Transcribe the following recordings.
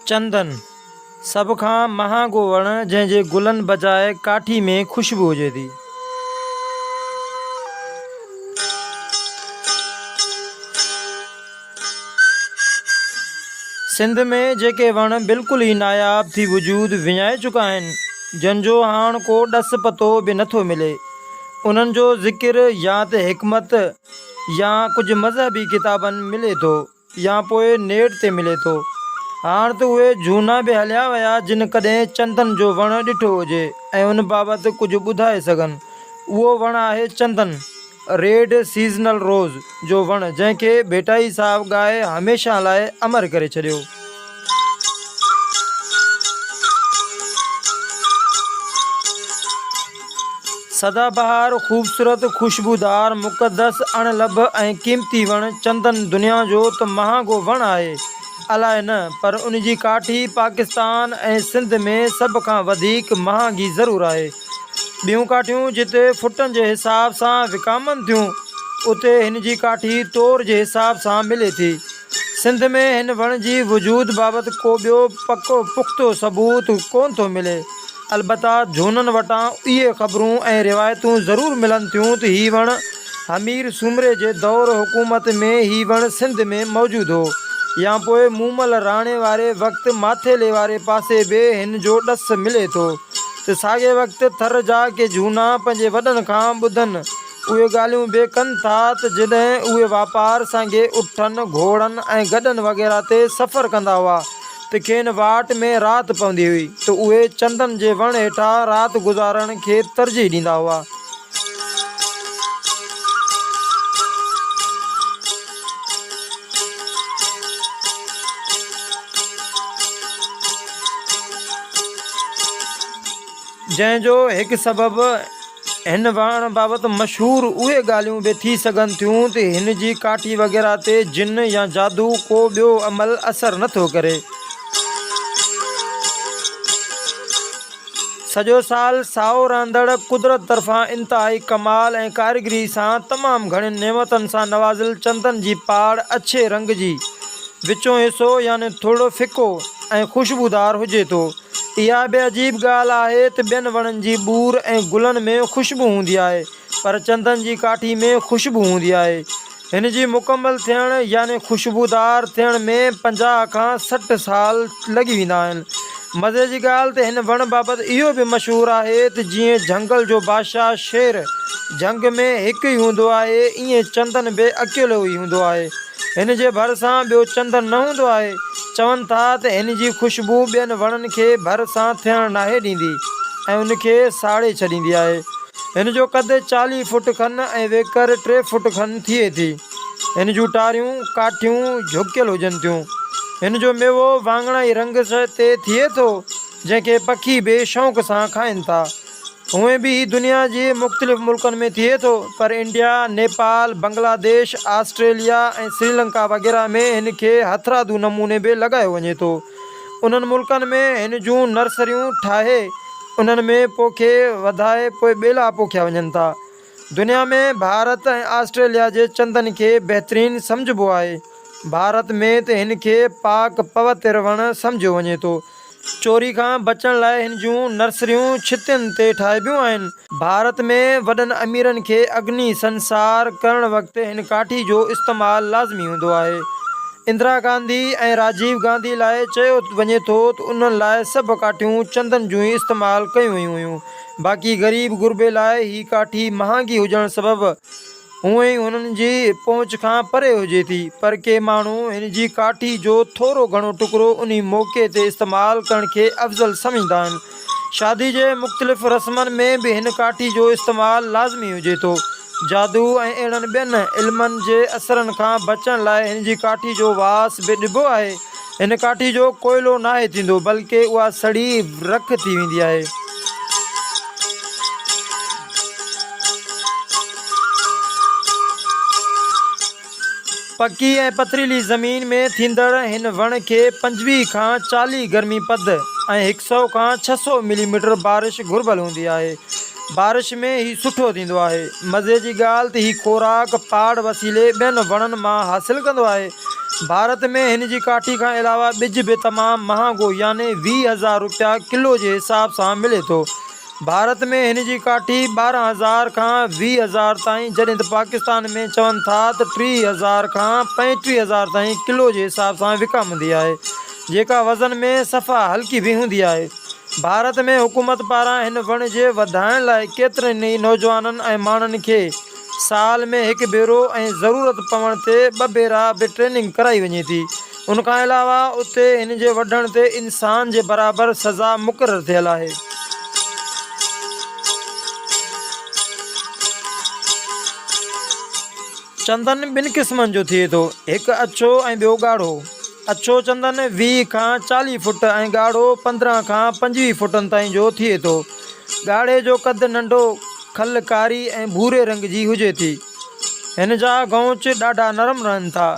چندن، سڀ کان مهانگو وڻ جنهن جي گلن بجاء ڪاٺي ۾ خوشبو هجي ٿي. سنڌ ۾ جيڪي وڻ بلڪل ئي ناياب ٿي وجود وڃائي چڪا آهن، جن جو هاڻ ڪو ڏس پتو به نه ٿو ملي، انهن جو ذڪر يا ته حڪمت يا ڪجهه مذهبي ڪتابن ملي ٿو يا پوء نيٽ تي ملي ٿو. هاڻ ته اهي جهونا به هليا ويا جن ڪڏهن چندن جو وڻ ڏٺو هجي ۽ ان بابت ڪجهه ٻڌائي سگهن. اهو وڻ آهي چندن. ريڊ سيزنل روز جو وڻ جنهن کي ڀيٽائي صاحب ڳائي هميشه لاء امر ڪري ڇڏيو. سدا بهار، خوبصورت، خوشبودار، مقدس، اڻ لڀ ۽ قيمتي وڻ چندن دنيا جو ته مهانگو وڻ آهي الاء نه پر ان جي ڪاٺي پاڪستان ۽ سنڌ ۾ سڀ کان وڌيڪ مهانگي ضرور آهي. ٻيون ڪاٺيون جتي فٽن جي حساب سان وڪامن ٿيون، اتي هن جي ڪاٺي تور جي حساب سان ملي ٿي. سنڌ ۾ هن وڻ جي وجود بابت ڪو ٻيو پڪو پختو ثبوت ڪونه ٿو ملي. البته جھونن وٽان اهي خبرون ۽ روايتون ضرور ملن ٿيون ته هي وڻ همير سومري جي دور حڪومت ۾ هي وڻ سنڌ ۾ موجود هو يا پوء مومل راڻي واري وقت ماٿيلي واري پاسي به هن جو ڏس ملي ٿو. ته ساڳئي وقت ٿر جا ڪي جهونا پنهنجي وڏن کان ٻڌن اهي ڳالهيون به ڪن ٿا ته جڏهن اهي واپار سانگي اٺن، گهوڙن ۽ گڏن وغيره تي سفر ڪندا هئا ته کين واٽ ۾ رات پوندي هئي ته اهي چندن جي وڻ هيٺا رات گذارڻ کي ترجيح ڏيندا هئا. جنهن جو هڪ سبب هن وڻ بابت مشهور اهي ڳالهيون به ٿي سگهن ٿيون ته هن جي ڪاٺي وغيره تي جن يا جادو ڪو ٻيو عمل اثر نٿو ڪري سڄو سال سائو رهندڙ قدرت طرفان انتهائي ڪمال ۽ ڪاريگري سان تمام گهڻين نعمتن سان نوازيل چندن جي پاڙ اڇي رنگ جي، وچون حصو يعني ٿورڙو ڦڪو ۽ خوشبودار هجي ٿو. اها به عجيب ڳالهه آهي ته ٻين وڻن جي ٻور ۽ گلن ۾ خوشبو هوندي آهي پر چندن جي ڪاٺي ۾ خوشبو هوندي آهي. هن جي مڪمل ٿيڻ يعني خوشبودار ٿيڻ ۾ پنجاهه کان سٺ سال لڳي ويندا آهن. مزي جي ڳالهه ته هن وڻ بابت اهو به مشهور آهي ته جيئن جهنگل جو بادشاهه شير جهنگ ۾ هڪ ئي هوندو آهي ايئن چندن به اڪيلو ئي هوندو آهي. هن جي ڀرسان ٻيو چندن نه هوندو آهي. چون ٿا ته هن جي خوشبو ٻين وڻن کي ڀر سان ٿيڻ ناهي ڏيندي ۽ ان کي ساڙي ڇڏيندي آهي. هن جو قد چاليهه فوٽ کن ۽ ويڪر ٽي فوٽ کن ٿئي ٿي. هن جون ٽاريون، ڪاٺيون، جهڪيل هجن ٿيون. هن جو ميوو واڱڻائي رنگ سئي تي ٿئي ٿو، جنهن کي پکي بي شونق سان کائن ٿا. هونئن به هي دنيا جي مختلف ملڪن ۾ ٿئي ٿو، پر انڊيا، نيپال، بنگلاديش، آسٽريليا ۽ سريلنڪا وغيره ۾ هن کي هٿرادو نموني به لڳايو وڃي ٿو. انهن ملڪن ۾ هن جون نرسريون ٺاهي انهن ۾ پوکي وڌائي پوء ٻيلا پوکيا وڃن ٿا. دنيا ۾ ڀارت ۽ آسٽريليا جي چندن کي بهترين سمجهبو آهي. ڀارت ۾ ته هن کي پاڪ پوتر وڻ سمجهيو وڃي ٿو. چوري کان بچڻ لاء هن جون نرسريون ڇتين تي ٺاهبيون آهن. ڀارت ۾ وڏن اميرن کي اگني سنسار ڪرڻ وقت هن ڪاٺي جو استعمال لازمي هوندو آهي. اندرا گانڌي ۽ راجيو گانڌي لاء چيو وڃي ٿو ته انهن لاء سڀ ڪاٺيون چندن جون ئي استعمال ڪيون ويون هيون. باقي غريب غربي لاء هي ڪاٺي مهانگي هجڻ سبب هونء ئي هنن جي پهچ کان پري هجي ٿي، پر ڪي ماڻهو هن جي ڪاٺي جو ٿورو گهڻو ٽڪرو انهي موقعي تي استعمال ڪرڻ کي افضل سمجهندا آهن. شادي جي مختلف رسمن ۾ به هن ڪاٺي جو استعمال لازمي هجي ٿو. جادو ۽ اهڙن ٻين علمن جي اثرن کان بچڻ لاء هن جي ڪاٺي جو واس به ڏبو آهي. هن ڪاٺي جو ڪوئلو ناهي ٿيندو بلڪ اها سڙي رک ٿي ويندي آهي. پڪي ۽ پٿريلي زمين ۾ ٿيندڙ هن وڻ کي پنجويهه کان چاليهه گرمي پد ۽ هڪ سئو کان ڇهه سئو ملي ميٽر بارش گهربل هوندي آهي. بارش ۾ هي سٺو ٿيندو آهي. مزي جي ڳالهه ته هي خوراڪ پاڙ وسيلي ٻين وڻن مان حاصل ڪندو آهي. ڀارت ۾ هن جي ڪاٺي کان علاوه ٻج به تمام مهانگو يعني ويهه هزار روپيا ڪلو جي حساب سان ملي ٿو. ڀارت ۾ هن جي ڪاٺي ٻارهن هزار کان ويهه هزار تائين جڏهن ته پاڪستان ۾ چون ٿا ته ٽيهه هزار کان پنجٽيهه هزار تائين ڪلو جي حساب سان وڪامندي آهي جيڪا وزن ۾ صفا هلڪي به هوندي آهي. ڀارت ۾ حڪومت پاران هن وڻ جي وڌائڻ لاء ڪيترن ئي نوجوانن ۽ ماڻهن کي سال ۾ هڪ ڀيرو ۽ ضرورت پوڻ تي ٻه ڀيرا به ٽريننگ ڪرائي وڃي ٿي. ان کان علاوه اتي هن جي وڍڻ تي انسان جي برابر سزا مقرر ٿيل آهي. چندن ٻن قسمن جو ٿئي ٿو، هڪ اڇو ۽ ٻيو ڳاڙهو. اڇو چندن ويهه کان چاليهه فوٽ ۽ ڳاڙهو پندرهن کان پنجويهه فوٽن تائين جو ٿئي ٿو. ڳاڙهي جو قد ننڍو، کل ڪاري ۽ ڀوري رنگ جي هجي ٿي. هن جا غونچ ڏاڍا نرم رهن ٿا.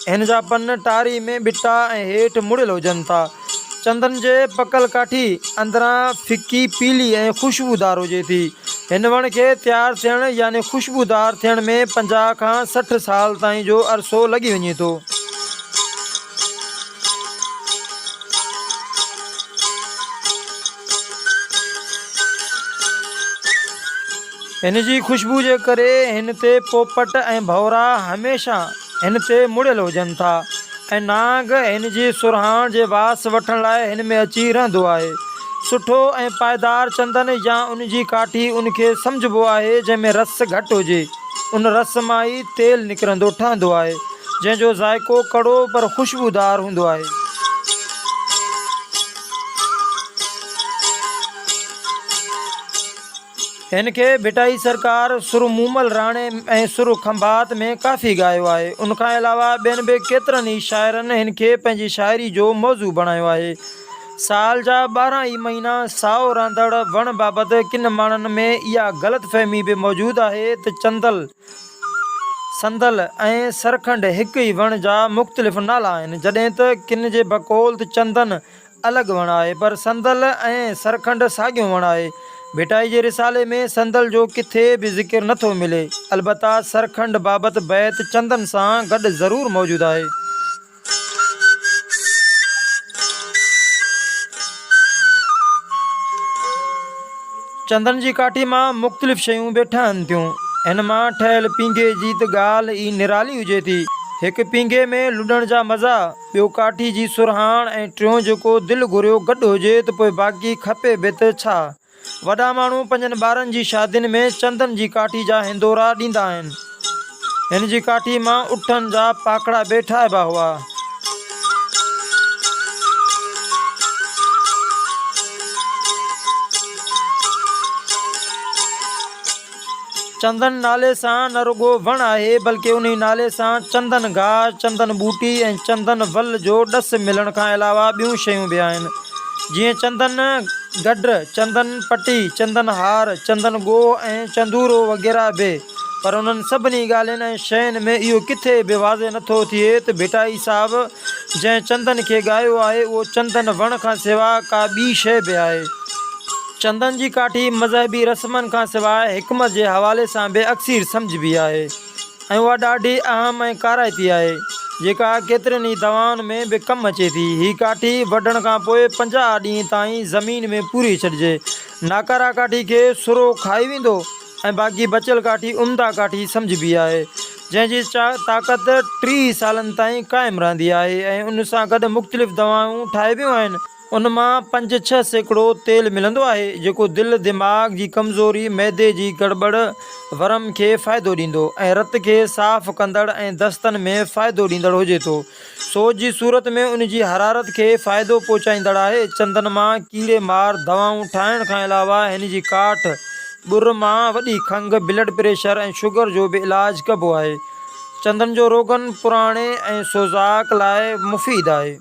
هن جا پن ٽاري ۾ ٻٽا ۽ هيٺ مڙيل هجن ٿا. چندن جي پڪل ڪاٺي اندران ڦڪي پيلي ۽ خوشبودار هجي ٿي. هن وڻ کي تيار ٿيڻ يعني خوشبودار ٿيڻ ۾ پنجاهه کان سٺ سال تائين جو عرصو لڳي وڃي ٿو. هن جي خوشبو جي ڪري هن تي پوپٽ ۽ ڀورا هميشه هن تي مڙيل هجن ٿا ۽ نانگ هن جي سرهاڻ جي واس وٺڻ لاء هن ۾ اچي رهندو آهي. سٺو ۽ پائدار چندن يا ان جي ڪاٺي ان کي سمجهبو آهي جنهن ۾ رس گهٽ هجي. ان رس مان ئي تيل نڪرندو ٺهندو آهي. جنهن جو ذائقو ڪڙو پر خوشبودار هوندو آهي. هن کي ڀٽائي سرڪار، سر مومل راڻي ۽ سر کنڀات ۾ ڪافي ڳايو آهي. ان کان علاوه ٻين به ڪيترن ئي شاعرن هن کي پنهنجي شاعري جو موضوع بڻايو آهي. سال جا ٻارهن ئي مهينا سائو رهندڙ وڻ بابت ڪن ماڻهن ۾ اها غلط فهمي به موجود آهي ته چندل، صندل ۽ سرکنڊ هڪ ئي وڻ جا مختلف نالا آهن، جڏهن ته ڪن جي بقول ته چندن الڳ وڻ آهي، پر صندل ۽ سرکنڊ ساڳيو وڻ آهي. ڀٽائي جي رسالي ۾ صندل جو ڪٿي به ذڪر نه ٿو ملي، البته سرکنڊ بابت بيت چندن سان گڏ ضرور موجود آهي. چندن جي ڪاٺي مان مختلف شيون به ٺهن ٿيون. هن مان ٺهيل پينگهي جي ته ڳالهه ئي نرالي هجي ٿي. هڪ پينگهي ۾ لڏڻ جا مزا، ٻيو ڪاٺي جي سرهاڻ ۽ ٽيون جيڪو دل گهريو گڏ هجي ته پوء باقي کپي به ته ڇا؟ وڏا ماڻهو پنهنجن ٻارن جي شادين ۾ چندن جي ڪاٺي جا هندورا ڏيندا آهن. هن جي ڪاٺي مان اٺن جا پاکڙا به ٺاهبا هئا. چندن نالي سان نه رڳو وڻ آهي بلڪه انهي نالي سان چندن گاهه، چندن ٻوٽي ۽ چندن ول جو ڏس ملڻ کان علاوه ٻيون شيون به آهن جيئن چندن گڊ، چندن پٽي، چندن هار، چندن ڳوهه ۽ چندورو وغيره به پر انهن سڀني ڳالهين ۽ شين ۾ اهو ڪٿي به واضح نه ٿو ٿئي ته ڀٽائي صاحب جنهن چندن کي ڳايو آهي اهو چندن وڻ کان سوا ڪا ٻي شيء به آهي. چندن جي ڪاٺي مذهبي رسمن کان سواء حڪمت جي حوالي سان به اڪثير سمجهبي آهي ۽ اها ڏاڍي اهم ۽ ڪارائتي آهي، جيڪا ڪيترين ئي دوائن ۾ به ڪم اچي ٿي. هي ڪاٺي وڍڻ کان پوء پنجاهه ڏينهن تائين زمين ۾ پوري ڇڏجي. ناڪاره ڪاٺي کي سرو کائي ويندو ۽ باقي بچيل ڪاٺي عمده ڪاٺي سمجهبي آهي، جنهن جي طاقت ٽيهه سالن تائين قائم رهندي آهي ۽ ان سان گڏ مختلف دوائون ٺاهبيون آهن، ان مان پنج ڇهه سيڪڙو تيل ملندو آهي جيڪو دل، دماغ جي ڪمزوري، معدي جي گڙٻڙ، ورم کي فائدو ڏيندو ۽ رت کي صاف ڪندڙ ۽ دستن ۾ فائدو ڏيندڙ هجي ٿو. سوز جي صورت ۾ ان جي حرارت کي فائدو پهچائيندڙ آهي. چندن مان ڪيڙي مار دوائون ٺاهڻ کان علاوه هن جي ڪاٺ، ٻر، مان وڏي کنگهه، بلڊ پريشر ۽ شگر جو به علاج ڪبو آهي. چندن جو روغن پراڻي ۽ سوزاڪ لاء مفيد آهي.